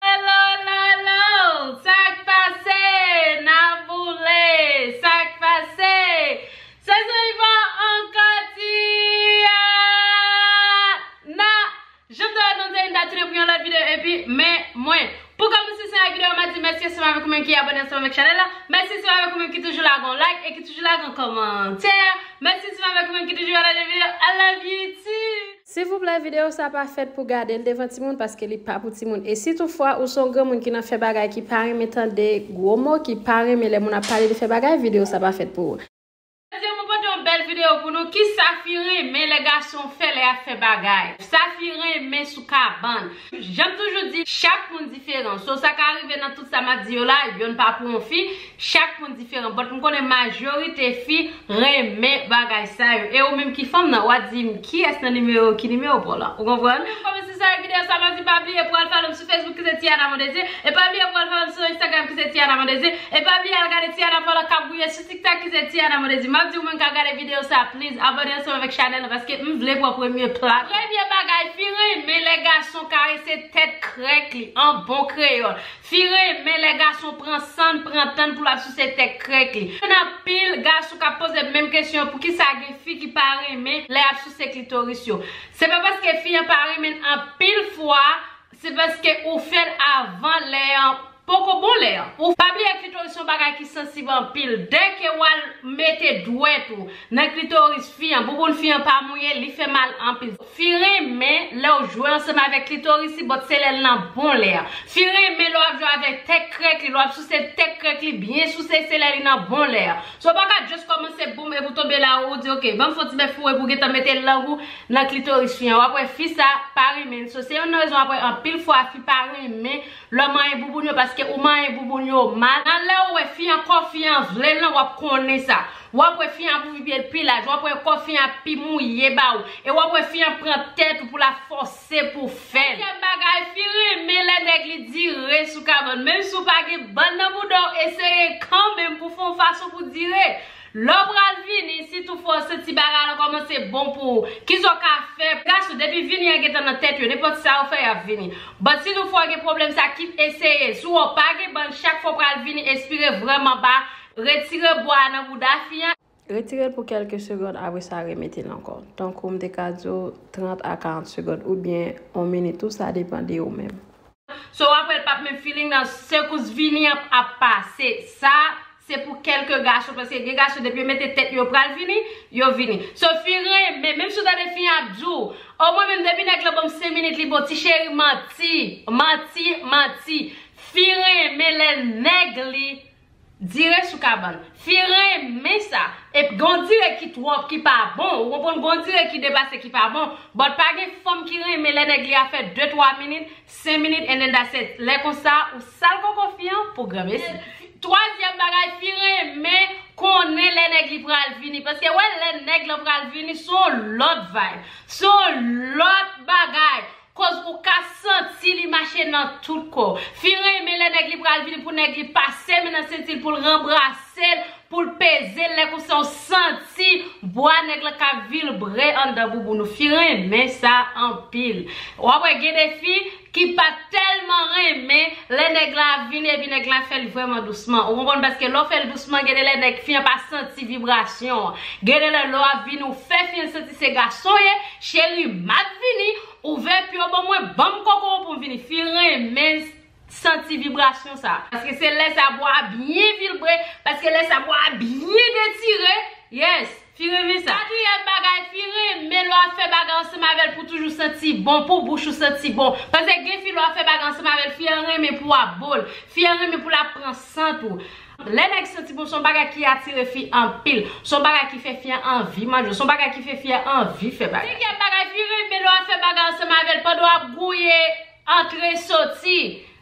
Hello lo lo sak pase na boule sak pase se sou Yvan ankò ti a na janm te wè nou te vin ta tounen pou yon lòt video epi men mwen pou kòmnse se yon video ma di mèsi ansanm avèk ou menm ki abone ansanm avèk chanèl la mèsi ansanm avèk ou menm ki toujou lage yon like e ki toujou lage yon kòmantè mèsi ansanm avèk ou menm ki toujou pataje video I love you too. Silvouplè video sa pa fèt pou gadel devan timoun paske li pa pou timoun e si tou fwa ou son granmoun ki nan fè bagay ki pa renmen tande gwo mo ki pa renmen lè moun ap pale de fè bagay video sa pa fèt pou ou. Jodi mwen pote yon bèl video pou nou kisa fi renmen lè gason fè lè yap fè bagay sa fi renmen sou kabann Janm toujou di chak moun diferan so sa ka rive nan tout sa map di yo la yonn pa pou yon fi chak moun diferan but m konnen majorite fi renmen bagay sa yo e ou menm ki fanm nan wa dim kiyès nan nimewo ki nimewo paw la ou konprann. Ou menm fanm si sa e video sa map di pa bliye pou al follow m sou Facebook ki se Tiana Mondésir e pa bliye pou al follow m sou Instagram ki se Tiana Mondésir e pa bliye al gade Tiana Paula kap gouye sou Tiktak ki se Tiana Monedy map diw moun kap gade video sa please abone ansanm avèk chanèl lan paske m vle pran premye plas. Premye bagay fi renmen lè gason karese tèt krèk li an bon kreyòl. Fi renmen lè gason pran sann, pran tann pou lap souse tèk krèk li. Konn anpil gason kap poze menm kesyon an poukisa gen fi ki pa renmen lè yap souse klitoris yo. Se pa paske fi an pa renmenn anpil fwa se paske ou fèl avan lè an Poko bon lè an. Ou pa bliye klitoris son bagay ki sansib anpil. Dèke wal mete dwèt ou nan klitoris fi an, bouboun fi an pa mouye, li fè mal anpil. Fi renmen lèw jwe ansanm avèk klitoris li but se lèl nan bon lè an. Fi renmen lè wap jwe avèk tèt krèk li, lè wap souse tèt krèk li byen souse se lè li nan bon lè an. So ou paka just kòmanse boum epi ou tonbe la ou di ok banm fon ti bèf fou epi ou gentan mete lang ou nan klitoris fi an wap wè fi sa pa renmen l. So se youn nan rezon wap wè anpil fwa fi pa renmen Lè w manyen bouboun yo paske ou manyen bouboun yo mal. Nan lè ou wè fi an kò fi an vle l lan wap konnen sa. Wap wè fi an ap ouvi pye l pi laj, wap wè kò fi an ap pi mouye ba ou. E wap wè fi an pran tèt ou pou la fòse pou w fè l. Dezyèm bagay, fi renmen lè nèg li dire sou kabann. Menm si w pa gen bann nan bouda w eseye kanmenm pou w fon fason pou dire. Lè w pral vini, si tou fwa w santi bagay lan kòmanse bon pou ou, ki sa w ka fè? Gason, depi vini an gentan nan tèt yo, nenpòt sa ou fè y ap vini. But, si nou fwa w gen pwoblèm sa, kit eseye l. Si w wè w pa gen bann, chak fwa w pral vini, espire vrèman ba, retire bwa a nan bouda fi a, retire l pou kèlke segond apre sa remete l ankò, tankou m te ka di w 30 a 40 segond oubyen 1 minit tou sa depan de ou menm. So wap wèl pap menm feeling nan sekous vini an ap pase sa se pou kelke gason paske gen gason depi yo mete tèt yo pral vini yo vini so fi renmen menm si w tande fi an ap di w oh mwen menm depi nèg lan banm 5 minit li bon ti cheri manti manti manti fi renmen lè nèg li Dire sou kabann. Fi renmen sa. Ep gen yon dire ki twòp ki pa bon ou konprann gen yon dire ki depase ki pa bon but pa gen fanm ki renmen lè nèg li a fè 2 3 minit 5 minit and then that's it lè konsa ou sal koko fi an pou granmesi. Twazyèm bagay fi renmen konnen lè nèg li pral vini paske wè lè nèg lan pral vini son lòt vibe son lòt bagay Koz ou ka santi li mache nan tout kò. Fi renmen lè nèg li pral vini pou nèg li pase men nan senti l pou l ranbrase l, pou l peze l lè konsa w santi bwa nèg la ka vilbre anndan bouboun ou. Fi renmen sa anpil. W ap wè gen de fi ki pa tèlman renmen lè nèg la ap vini epi nèg la fè l vrèman dousman. Ou konprann paske lè w fè l dousman gen de lè nèg fi an pa santi vibrasyon an. Gen de lè lè w ap vini ou fè fi an santi. Se gason ye cheri map vini ouvè pyo bon mwen banm koko w poum vini fi renmen Santi vibrasyon sa. Paske se lè sa bwa a byen vilbre paske lè sa bwa a byen detire yes fi renmen sa. Katriyèm bagay fi renmen lè wap fè bagay ansanm avèl pou toujou santi bon pou bouch ou santi bon paske gen fi lè wap fè bagay ansanm avèl fi an renmen pou wap bol fi an renmen pou lap pran sant ou Lè nèg santi bon son bagay ki atire fi anpil. Son bagay ki fè fi an anvi manje. Son bagay ki fè fi an anvi fè bagay. Dezyèm bagay, fi renmen lè w ap fè bagay ansanm avè l pandan w ap gouye, antre, soti.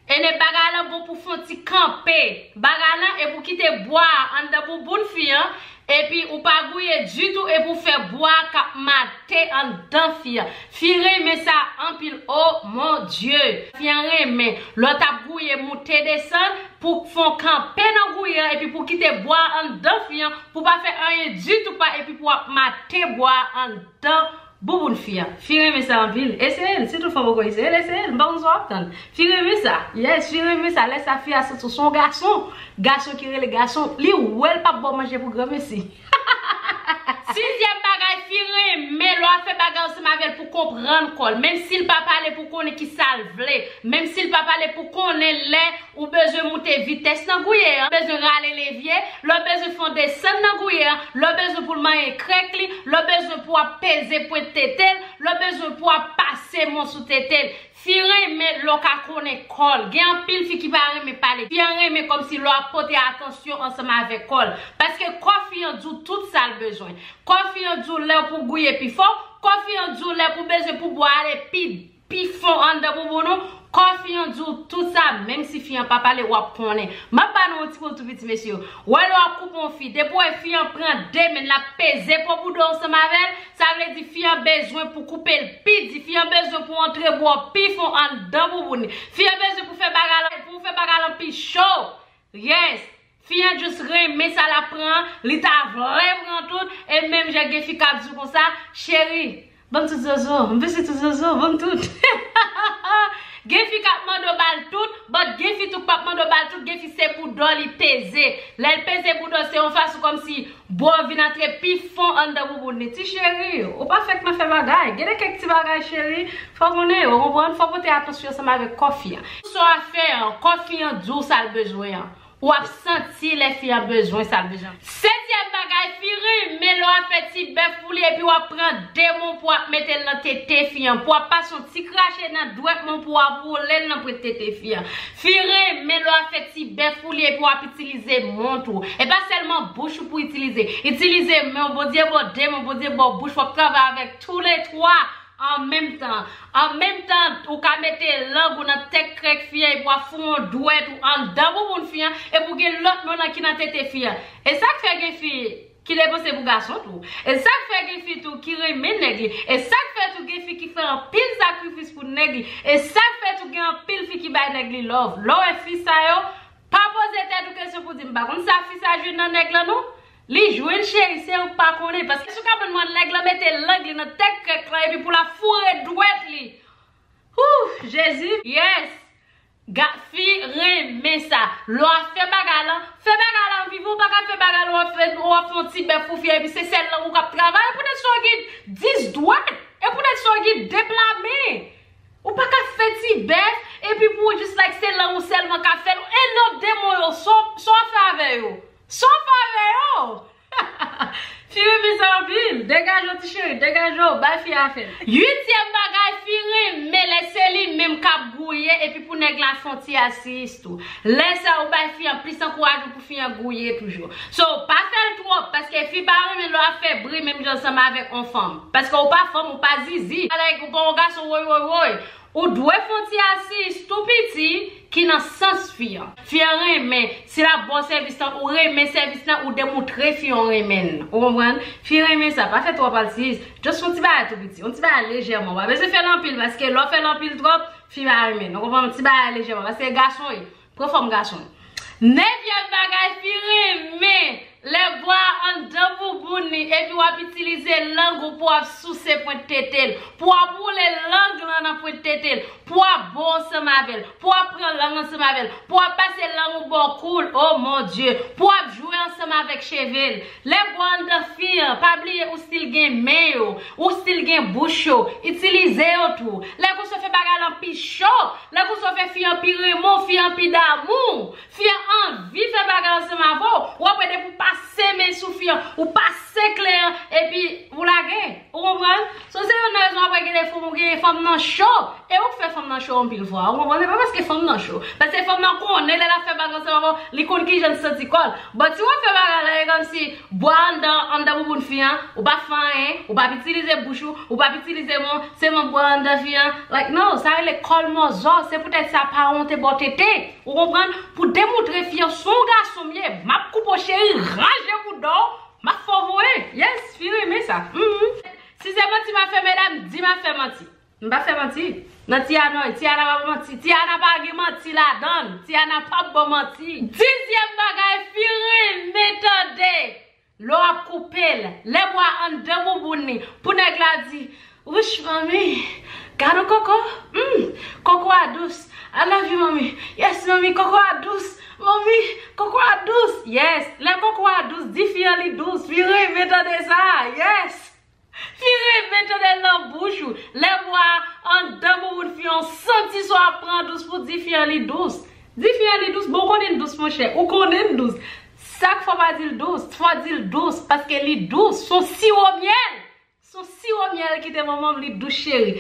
Ene bagay lan bon pou w fon ti kanpe bagay lan epi w kite bwa a anndan bouboun fi an Epi ou pa gouye ditou epi ou fè bwa kap mate andan fi a. Fi renmen sa anpil oh mon Dieu. Fi an renmen lè w tap gouye moute desann pou w k fon kanpe nan gouye an epi pou w kite bwa andan fi an pou w pa fè anyen ditou pa epi pou w ap mate bwa andan Bouboun fi a. Fi renmen sa anpil. Eseye l, si tout fwa poko eseye l, eseye l. M pa konn sa w ap tann. Fi renmen sa. Yes, fi renmen sa. Lè sa fi a santi w se yon gason. Gason ki rele gason. Li wè l pa ba w manje pou granmesi. Sizyèm bagay, fi renmen lè w ap fè bagay ansanm avè l pou konprann kò l. Menm si l pa pale pou w konnen ki sa l vle. Menm si l pa pale pou w konnen lè. Ou bezwen moute vitès nan gouye an, bezwen rale levye, lè w bezwen fè yon desann nan gouye an, lè w bezwen pou l manyen krèk li, lè w bezwen pou ap peze pwent tete l, lè w bezwen pou ap pase mo sou tete l. Fi renmen lè w ka konnen kò l. Gen anpil fi ki pa renmen pale. Fi an renmen kòmsi lè w ap pote atansyon ansanm avèk kò l. Paske kò fi an di w tout sa l bezwen. Kò fi an di w lè pou w gouye pi fò, kò fi an di w lè pou w bezwen pou bwa ale pi. pi fon anndan bouboun ou, kò fi an di w tout sa menm si fi an pa pale w ap konnen. M ap ba nou yon ti kou tou piti mesye. W wè lè w ap koupe yon fi, depi w wè fi an pran de men l ap peze po bouda w ansanm avè l, sa vle di fi an bezwen pou koupe l pi di, fi an bezwen pou antre bra w pi fon anndan bouboun li, fi an bezwen pou fè bagay lan pou w fè bagay lan pi cho. Yes! Fi an just renmen sa lap pran an, li ta vle pran tout, e menm jan gen fi kap di w konsa, cheri, banm tout zozo, m vle si tout zozo, banm tout. Gen fi kap mande w bal tout, but gen fi tou k pap mande w bal tout, gen fi se bouda w li peze. Lè l peze bouda w se yon fason kòmsi bwa w vin antre pi fon anndan bouboun li. Ti cheri, ou pa fèk nan fè bagay. Gen de kèk ti bagay cheri, fò w konnen yo, ou konprann, fò w pote atansyon ansanm avèk kò fi an. Sa w a fè an, kò fi an di w sa l bezwen an. Ou ap santi lè fi an bezwen sa l bezwen. Setyèm bagay, fi renmen lè w ap fè ti bèf pou li epi w ap pran de moun pou w ap mete l nan tete fi an, pou w ap pase yon ti krache nan dwèt moun pou w ap woule l nan prent tete fi an. Fi renmen lè w ap fè ti bèf pou li epi w ap itilize men tou. E pa sèlman bouch ou pou w itilize. Itilize men w, Bondye ba w de men, Bondye ba w bouch, w ap travay avèk tou le twa An menm tan. An menm tan, ou ka mete lang ou nan tèt krèk fi an epi w ap fou yon dwèt ou anndan bouboun fi an epi w gen lòt men w nan ki nan tete fi an. E sa k fè gen fi ki depanse pou gason tou. E sa k fè gen fi tou ki renmen nèg li. E sa k fè tou gen fi ki fè anpil sakrifis pou nèg li. E sa k fè tou gen anpil fi ki bay nèg li love. Lè w wè fi sa yo, pa poze tèt ou kesyon pou w di m pa konn sa fi sa jwenn nan nèg lan non. Li jwenn cheri se ou k pa konnen paske sou kabann mwen nèg lan mete lang li nan tèt krèk lan epi pou la foure dwèt li Ooh Jezi. Yes ga fi renmen sa. Lè wap fè bagay lan, fè bagay lan vivan ou paka fè bagay lan wap fè wap fè yon ti bèf pou fi a epi se sèl lang ou kap travay pou nèg sa yo gen 10 dwèt e pou nèg sa yo gen 2 pla men ou paka fè ti bèf epi pou ou jis like se lang ou sèlman kap fèl e non demon yo sa wap fè avè yo. Saw pale oo. Fi renmen sa anpil. Degaje w ti cheri. Degaje w. Bay fi a afe l. Uityèm bagay fi renmen lè se li menm kap gouye epi pou nèg la fon ti asiyis tou. Lè sa ou bay fi an plis ankourajman pou fi an gouye toujou. So pa fè l twòp paske fi pa renmen lè wap fè bri menm jan ansanm avèk on fanm. Paske ou pa fanm ou pa zizi. Ala e gonpaw on gason woy woy woy. Ou dwe fon ti asis tou piti ki nan sans fi an. Fi an renmen, si lap baw sèvis lan ou renmen sèvis lan ou demoutre fi an ou renmen l. Ou konprann? Fi renmen sa, pa fè twòp asis, just fon ti bagay tou piti, yon ti bagay lejèman, ou pa bezwen fèl anpil paske lè w fèl anpil twòp, fi pa renmen l. Ou konprann? Ti bagay lejèman paske gason e. Pran fòm gason. Nevyèm bagay fi renmen, lè vwa a anndan bouboun li epi w ap itilize lang ou pou w ap souse pwent tete l, pou w ap woule lang lan nan pwent tete l, pou w ap bo ansanm avè l, pou w ap pran lang ansanm avè l, pou w ap pase lang ou bò kou l, o Mon Dye! Pou w ap jwe ansanm avèk cheve l. Lè Gwal dan fi an, pa bliye ou stil gen men yo, ou stil gen bouch yo, itilize yo tou. Lè Gousso fè bagay lan pi cho, lè Gousso fè fi an pi renmen w, fi an pi damou w, fi an anvi fè bagay ansanm avè w, wap wè depi w pase men sou fi an, ou pase kle an epi ou lage. Ou konprann? So se youn nan rezon apre gen defo ou gen fanm nan cho. E ou k fè fanm nan cho anpil fwa. Ou konprann? Se pa paske fanm nan cho. Paske fanm nan konnen lè l ap fè bagay ansanm avè w, li konn kijan l santi kò l. But si w ap fè bagay la e kòmsi bwa anndan anndan bouboun fi an, ou pa fè anyen, ou pa ap itilize bouch ou, ou pa ap itilize men w, sèlman bwa anndan fi an, like no, sa rele kòl mòzò, se poutèt sa pa wonte ba w tete. Ou konprann? Pou w demoutre fi an, s on gason m ye, m ap koupe w cheri, ranje bouda w, Map fè w voye. Yes fi renmen sa humm. Si se manti ma fè medam di ma fè manti. M pa fè manti nan ti anoy. Ti ana pa bon manti. Ti ana pa gen manti ladann. Ti ana pap bon manti. Dizyèm bagay fi renmen tande lè w ap koupe l. Lè bwa anndan bouboun li pou nèg la di Wouch manmi gadon koko humm koko a dous I love you manmi yes manmi koko a dous manmi koko a dous yes lè koko a dous di fi an li dous fi renmen tande sa yes fi renmen tandel nan bouch ou lè bo a andan bouboune fi an santi son ap pran dous pou di fi an li dous di fi an li dous bon ou konnen li dous monchè ou konnen li dous sak fè w pa dil dous fò w dil dous paske li dous son siwo myèl Son siwo myèl kite manmanm li dous cheri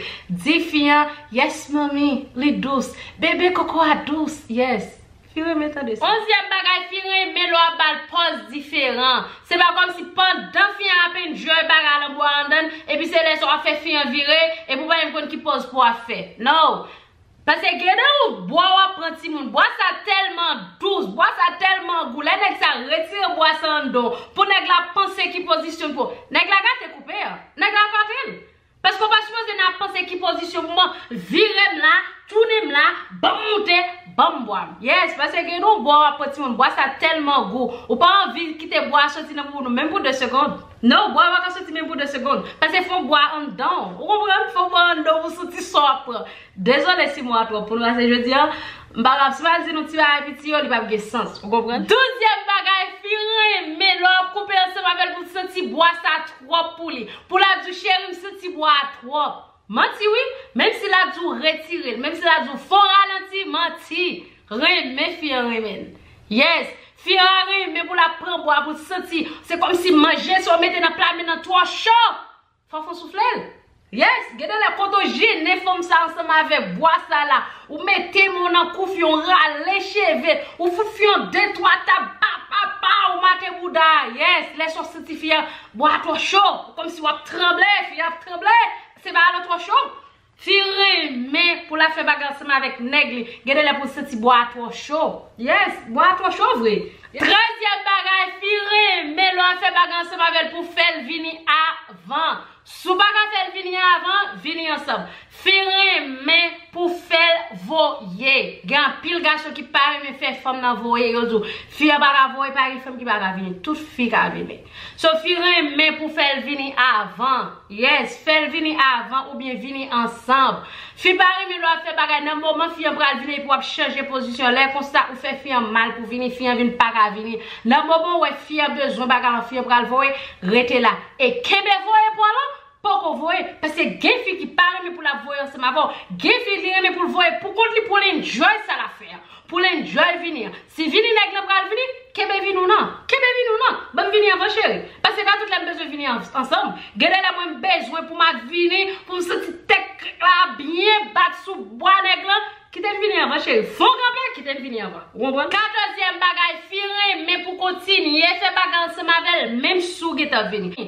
di fin an yes manmi li dous bebe koko a dous yes fi renmen tande sa. Onzyèm bagay fi renmen lè wap bal pòz diferan se pa kòmsi pandan fi an ap enjoy bagay a lanmou a andann epi se lè sa wap fè fi an vire epi ou pa menm konn ki pòz pouw ap fè non. Pase gede yon bwa wap pran timoun bwa sa telman dous bwa sa telman gou lè nèg sa retire bwa sa andon pou nèg la panse ki pozisyon pou nèg la gate koupe an nèg la katel paske ou pa sipoze nan ap panse ki pozisyon pou man virem la tounenm la banm moute banm bwam yes pase gede yon bwa wap pran timoun bwa sa telman gou ou pa anvi kite bwa soti nan bouboune menm pou 2 segond. Non, bwa pa ka soti menm pou 2 segond. Pase fon bwa a anndan w. Ou konprann? Fon bwa a anndan w pou soti son ap pran. Dezole si mo a twòp pou nou ase jodi an. M pa kapab. Si m al di nou ti bagay piti yo, li p ap gen sans. Ou konprann? Douzyèm bagay, fi renmen lè w ap koupe ansanm avè l pou l santi bwa sa twòp pou li. Pou l ap di w cheri m santi bwa a twòp. Manti wi! Menm si l ap di w retire l. Menm si l ap di w fè w ralanti, manti! Renmen fi an renmenl yes. Fi an a renmen pou lap pran bwa pou l santi se komsi manje sa w mete nan pla men nan tro cho fok ou soufle l yes gen de lè kote w jennen fanm sa ansanm avek bwa sa la ou mete men w nan kou fi an ou rale cheve ou fout fi an de twa tap pa pa pa ou make bouda a yes lè sa w santi fi an bwa a tro cho komsi wap tranble fi an ap tranble se bagay lan tro cho Fi renmen pou la fè bagay ansanm avèk nèg li, gen de lè pou l santi bwa a twò cho. Yes, bwa a twò cho vre. Trezyèm bagay, fi renmen lè w ap fè bagay ansanm avè l pou w fè l vini avan. Si w pa ka fè l vini avan, vini ansanm. Fi renmen pou w fè l voye. Gen anpil gason ki pa renmen fè fanm nan voye, yo di w, fi an pa ka voye, pa gen fanm ki pa ka vini. Tout fi ka vini. Sophie renmen pou fèl vini avan. Yes fèl vini avan oubyen vini ansanm. Fi pa renmen lè wap fè bagay nan moman fi an pral vini epi wap chanje pozisyon lè konsa ou fè fi an mal pou vini fi an vin paka vini nan moman ou wè fi an bezwen bagay lan fi an pral voye rete la e kenbe voye pwa lan Poko voye, paske gen fi ki pa renmen pou lap voye ansanm avèw, gen fi li renmen poul voye pou kont li poul enjoy sa lap fè an, poul enjoy vini an, si vini nèg lan pral vini, kenbe vini w nan, kenbe vini w nan, banm vini anvan cheri, paske pa tout lè m bezwen vini ansanm, gen de lè mwen bezwen poum ak vini, poum santi tèt krèk la ap byen bat sou bwa nèg lan, kitem vini anvan cheri, fon kanpe, kitem vini anvan, ou konprann. Katòzyèm bagay, fi renmen pou kontinye fè bagay ansanm avèl menm si w gentan vini.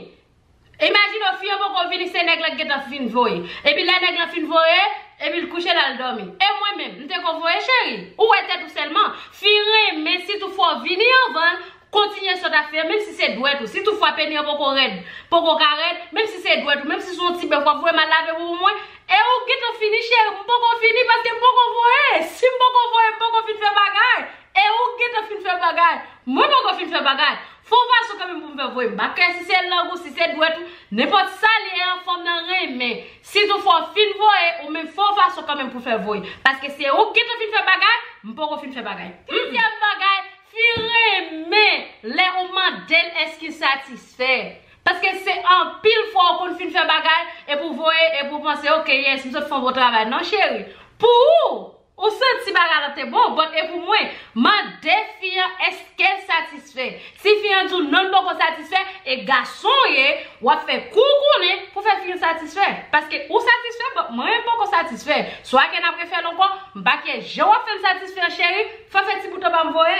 Imajine w fi an poko vini se nèg la ki gentan fin voye. Epi lè nèg lan fin voye, epi l kouche l al dòmi. E mwen menm, m te ko voye cheri? Ou wè tèt ou sèlman. Fi renmen si tou fwa w vini anvan l, kontinye sòt ap fè menm si se dwèt ou. Si tou fwa peni an poko rèd, poko ka rèd, menm si se dwèt ou, menm si se yon ti bèf w ap voye m al lave pou mwen. E ou gentan fini cheri? M poko fini paske m poko voye. Si m poko voye, m poko fin fè bagay. E ou gentan fin fè bagay? Mwen poko fin fè bagay. Fon fason kanmenm pou m fè voye bak la si se lang ou si se dwèt ou nenpòt sa li ye an fanm nan renmen sitou fò w fin voye ou menm fon fason kanmenm pou fè voye paske se ou k gentan fin fè bagay m poko fin fè bagay Dezyèm bagay fi renmen lè ou mande l èske l satisfè paske se anpil fwa ou konn fin fè bagay epi w voye epi w panse ok yes m sot fon bon travay non cheri pou ou Ou santi bagay lan te bon but e pou mwen? Mande fi an eskel satisfè. Si fi an diw non li poko satisfè e gason w ye, wap fè kou w konnen pou fè fi an satisfè. Paske ou satisfè but mwen menm poko satisfè. So ake nap refèl ankò, m pa kyè jan wap fèm satisfè an cheri, fè fè ti bout anbam voye.